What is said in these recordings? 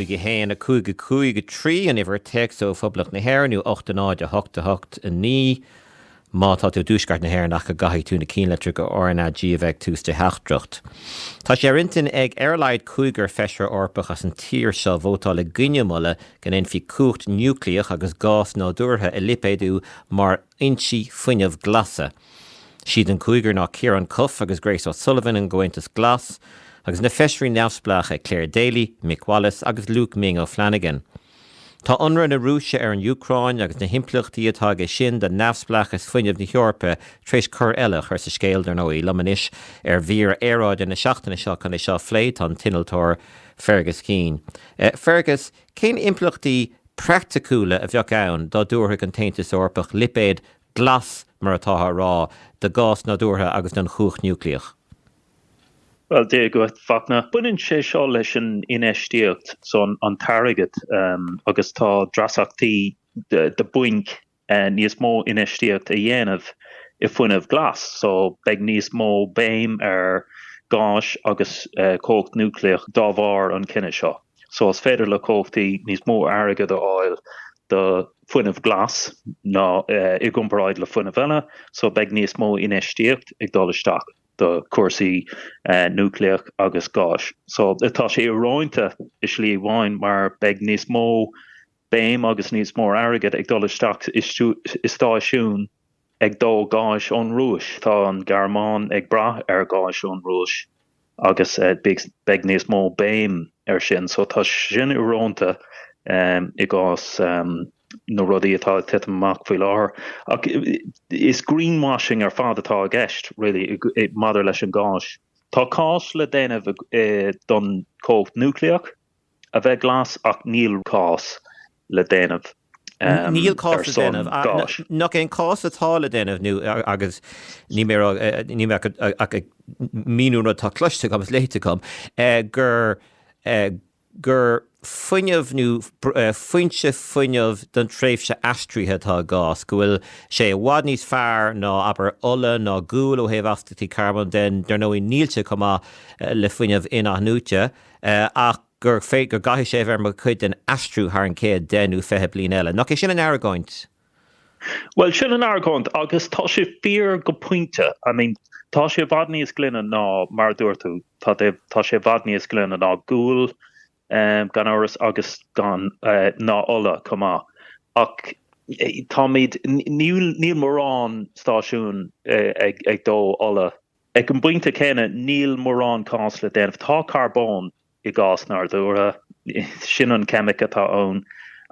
ag 1, 5, 5, 3, an uimhir téacs ó Phoblacht na hÉireann, nó 8, 0, 8, 8, 9, má tá tú i dTuaisceart na hÉireann ach go gcaithfidh tú na cinnlitreacha R NA G a bheith ag tús do theachtaireacht. Tá sé ar intinn ag ar a laghad cúigear Feisire Eorpach as an tír seo vótáil i gcoinne moladh go ndéanfaí cumhacht núiclíoch agus gás nádúrtha a lipéadú mar fhoinsí fuinneamh glasa. Is iad an cúigear ná Ciarán Cuffe agus Grace O'Sullivan ón gComhaontas Glas, agus na feisirí neamhspleácha Clare Daly, Mick Wallace agus Luke 'Ming' O'Flanagan. Tá ionradh na Rúise ar an Úcráin agus na himpleachtaí atá aige sin do neamhspleáchas fuinnimh na hEorpa tar éis cor eile a chur sa scéal, dar ndóigh. Liom anois ar mhír aeráide na seachtaine seo chun é seo a phlé tá an t-innealtóir Fergus Keane. Fergus, cén impleachtaí praiticiúla a bheadh ann dá dtabharfadh an tAontas Eorpach lipéad 'glas', mar atá á rá, de gás nádúrtha agus den chumhacht núiclíoch. Bhuel, Dia dhuit, Fachtna. Baineann sé seo leis an infheistíocht, so, an t-airgead, agus tá dreasachtaí do bainc níos mó infheistíocht a dhéanamh i fuinneamh glas, so, beidh níos mó béim ar gáis agus cumhacht núiclíoch dá bharr an cinneadh seo. so is féidir le comhlachtaí níos mó airgead a fháil do fuinneamh glas ná i gcomparáid le fuinneamh eile, so beidh níos mó infheistíocht ag dul isteach do cúrsaí núicléach agus gáis. So tá sé íorónta i slí amháin mar beidh níos mó béim agus níos mó airgead ag dul isteach i stáisiún, ag dó gáis ón Rúis. Tá an Ghearmáin ag brath ar gháis ón Rúis agus beidh níos mó béim air sin. So tá sin íorónta i gcás na rudaí atá ag titim amach faoi láthair. Ach is greenwashing ar fad atá i gceist really maidir leis an gáis. Tá cás le déanamh don cumhacht núicléach. a bheith glas ach níl cás le déanamh. Níl cás le déanamh, nach é an cás atá le déanamh, nó agus níl mé níl mé ach ag míniú an rud atá cloiste agam is léite agam, gur gur fuinneamh nó foinse fuinneamh don tréimhse aistrithe atá i ngás, go bhfuil sé i bhfad níos fearr ná, abair, ola ná gual ó thaobh astachtaí carbóin de, dar ndóigh níl sé chomh maith le fuinneamh in-athnuaite. ach gur féidir go gcaithfidh sé a bheith mar chuid den aistriú thar an chéad deich nó fiche bliain eile. Nach é sin an argóint? Bhuel, sin an argóint, agus tá sé fíor go pointe. I mean, tá sé i bhfad níos glaine ná, mar a dúirt tú, tá sé, tá sé i bhfad níos glaine ná gual, gan amhras, agus gan, ná ola chomh maith. Ach táimid, níl, níl mórán stáisiún ag dó ola Ag an bpointe céanna, níl mórán cás le déanamh. Tá carbón i gás nádúrtha, sin an cheimic atá ann,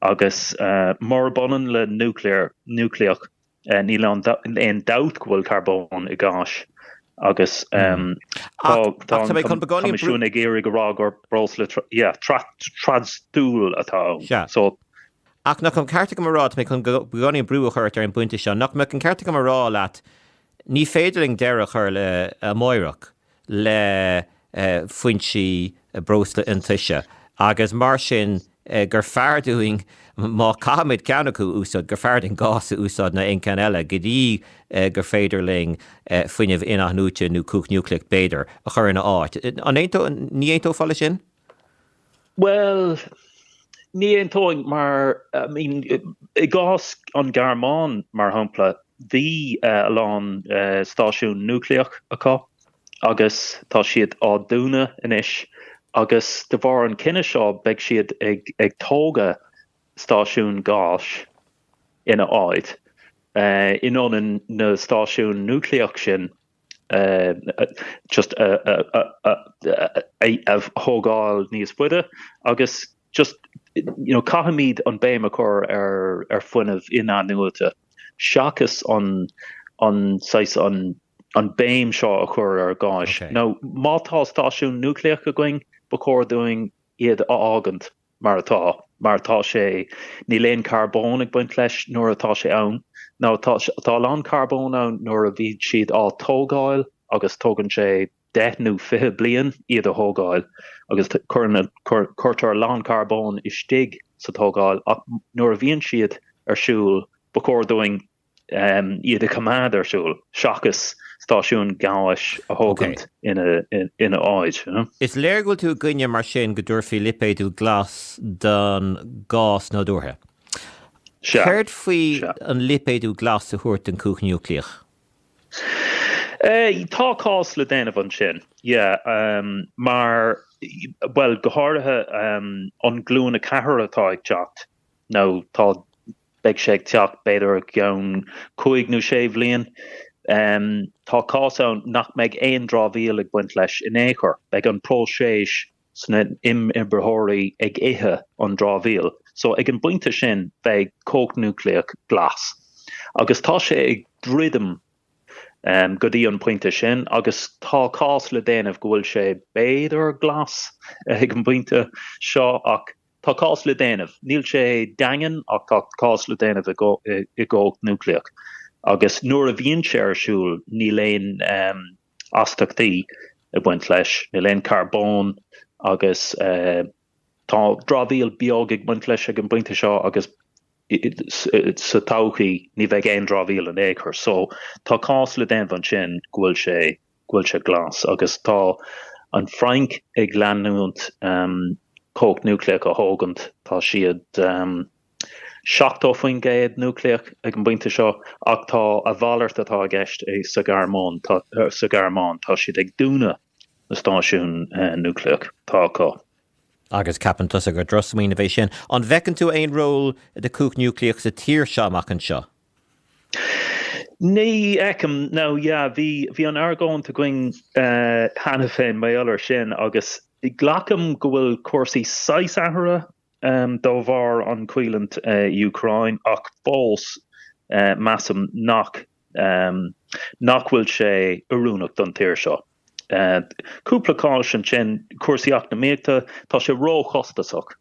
agus murab ionann le núicléar, núicléach, níl aon dabht go bhfuil carbón i ngás. Agus tá an Coimisiún ag iarraidh a rá gur breosla trasdul atá ann. Ach nach mbeadh an ceart agam a rá, tá mé chun beagáinín brú a chur ort ar an bpointe seo, nach mbeadh an ceart agam a rá leat, Ní féidir linn deireadh a chur le hamáireach le foinsí breosla iontaise agus mar sin gur fearr dúinn, má chaithimid ceann acu a úsáid, gur fearr dúinn gás a úsáid ná aon cheann eile go dtí gur féidir linn fuinneamh in-athnuaite, nó cumhacht núicléach b'fhéidir, a chur ina áit. An aontóidh, ní aontófá le sin? Bhuel, ní aontóinn, mar I mean, i gcás an Ghearmáin, mar shampla, bhí a lán stáisiún núicléach acu agus tá siad á dúnadh anois agus de bharr an cinneadh seo beidh siad ag tógadh stáisiún gáis ina áit, in ionad na stáisiún núicléach sin. just a thógáil níos faide agus just you know caithfimid an béim a chur ar fuinneamh in-athnuaite seachas an an saghas an an béim seo a chur ar gás. Now má tá stáisiúin núicléach againn ba chóir dúinn iad a fhágaint. mar atá. Mar atá sé, níl aon charbón ag baint leis nuair atá sé ann, now tá a lán carbón ann nuair a bhíonn siad á dtógáil agus tógann sé deich nó fiche bliain iad a thógáil agus cuirtear a lán carbón istigh sa tógáil ach nuair a bhíonn siad ar siúl ba chóir dúinn iad a choimeád ar siúl seachas stáisiúin gháis a thógaint ina áit. Is léir go bhfuil tú i gcoinne mar sin go dtabharfaí lipéadú glas don gás nádúrtha. Céard faoi an lipéadú glas a thabhairt don chumhacht núicléach? Tá cás le déanamh ansin, mar, bhuel, go háirithe an Ghlúin 4 atá ag teacht, nó tá beidh sé ag teacht b'fhéidir i gceann cúig nó sé bhliain. Tá cás ann nach mbeidh aon dramhaíl ag baint leis in aon chor. Beidh an próiseas sna himoibritheoirí ag ithe an dramhaíl. So, ag an bpointe sin beidh cumhacht núicléach glas. Agus tá sé ag druidim go dtí an pointe sin agus tá cás le déanamh go bhfuil sé b'fhéidir glas ag an bpointe seo ach Tá cás le déanamh. Níl sé daingean ach tá cás le déanamh i gcumhacht núicléach. Agus nuair a bhíonn sé ar siúl níl aon astachtaí ag baint leis, níl aon charbón agus tá dramhaíl beag ag baint leis ag an bpointe seo agus sa todhchaí ní bheidh aon dramhaíl in aon chor. So tá cás le déanamh ansin go bhfuil sé go bhfuil sé glas, agus tá an Frainc ag leanúint cumhacht núicléach a thógaint, tá siad 70% núicléach ag an bpointe seo, ach tá a mhalairt atá i gceist sa Ghearmáin, tá siad ag dúnadh na stáisiún núicléach atá acu. Agus ceapann tusa gur drochsmaoineamh é sin? An bhfeiceann tú aon ról do chumhacht núicléach sa tír seo amach anseo? Ní fheicim, nó yeah, bhí, bhí an argóint againn cheana féin, maidir le sin, agus glacaim go bhfuil cúrsaí saghas athraithe de bharr an choimhlint i Úcráin, ach fós measaim nach, nach bhfuil sé oiriúnach don tír seo. Cúpla cás ansin, cúrsaí eacnamaíochta, tá sé róchostasach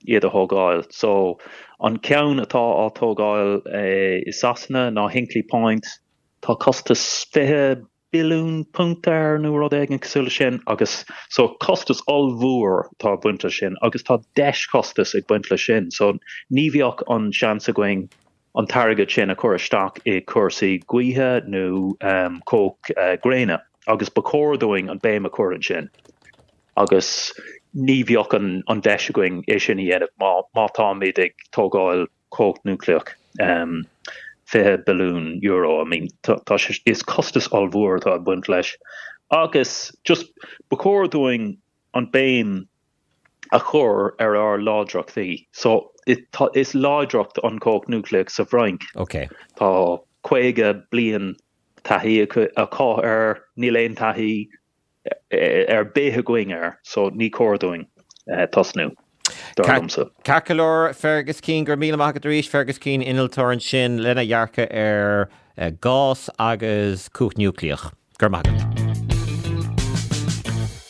iad a thógáil. So, an ceann atá á tógáil i Sasana ná Hinkley Point. Tá costas fiche billiún punt air nó rud éigin cosúil le sin agus so costas ollmhór atá ag baint le sin agus tá deis-chostas ag baint le sin so ní bheadh an seans againn an t-airgead sin a chur isteach i cúrsaí gaoithe nó cumhacht gréine agus ba chóir dúinn an béim a chur ansin agus ní bheadh an deis againn é sin a dhéanamh má táimid ag tógáil cumhacht núicléach €20 billiún. I mean tá sé, is costas ollmhór atá ag baint leis agus just ba chóir dúinn an béim, a chur ar ár láidreachtaí. So, is láidreacht an chumhacht núicléach sa bhFrainc. Ok. Tá caoga bliain taithí acu air, níl aon taithí ar bith againn air, so ní cóir dúinn tosnú, dar liomsa. Ceart go leor, Fergus Keane, go raibh míle maith agat arís. Fergus Keane, innealtóir ansin, lena dhearcadh ar ghás agus cumhacht núicléach. Go raibh maith agat.